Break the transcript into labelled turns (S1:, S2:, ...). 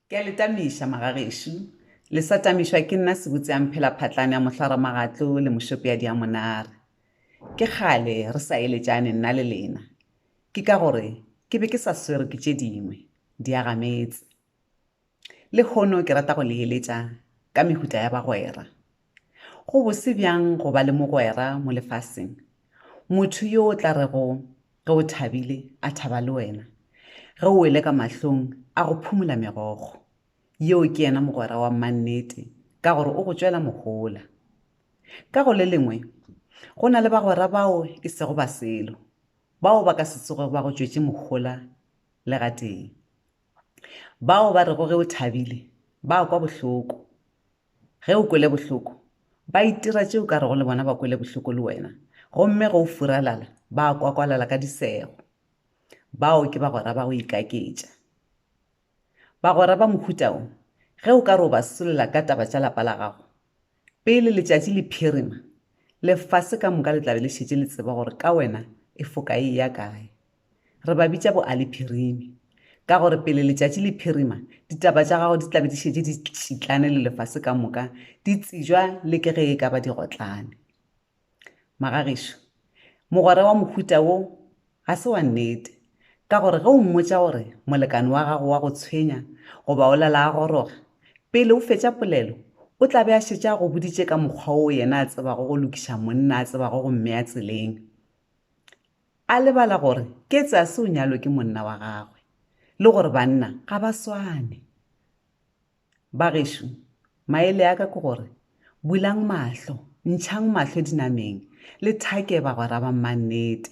S1: Ke a le tamiša, magagešo. Le sa tamišwa ke nna sebutseamphela-phatlane ya mohlwaramagatlo le mošopeadi ya monare. Ke kgale re sa eletšane nna le lena. Ke ka gore ke be ke sa swerwe ke tše dingwe, diagametse. Lehono ke rata go le eletša ka mehuta ya bagwera. Go bose bjang go ba le mogwera mo lefaseng, motho yo o tla rego ge o thabile a thaba le wena, ge o wele ka mahlong a go phumola megogo! Yeo ke yena mogwera wa mannete ka gore o go tšwela mohola. Ka go le lengwe, go na le bagwera bao e sego ba selo, bao ba ka se tsoge ba go tšwetše mohola le gatee, bao ba rego ge o thabile ba kwa bohloko. Ge o kwele bohloko, ba itira tše o ka rego le bona ba kwele bohloko le wena, gomme ge o furalala, ba kwakwalala ka disego. Bao ke bagwera ba go ikaketša. Bagwera ba mohuta wo, ge o ka re o ba solela ka taba tša lapa la gago, pele letšatši le phirima, lefase ka moka le tla be le šetše le tseba gore ka wena e foka e eya kae. Re ba bitša boalephirimi, ka gore pele letšatši le phirima, ditaba tša gago di tla be di šetše di šitlane le lefase ka moka, di tsejwa le ke ge e ka ba digotlane. Magagišo, mogwera wa mohuta wo ga se wa nnete, ka gore ge o mmotša gore molekane wa gago wa go tshwenya goba o lala a goroga, pele o fetša polelo o tla be a šetše a go boditše ka mokgwa wo yena a tsebago go lokiša monna a tsebago go mmea tseleng. a lebala gore Ketsase o nyalwe ke monna wa gagwe le gore banna ga ba swane. Bagešo, maele a ka ke gore, bulang mahlo, ntšhang mahlo dinameng, le thake bagwera ba mmannete.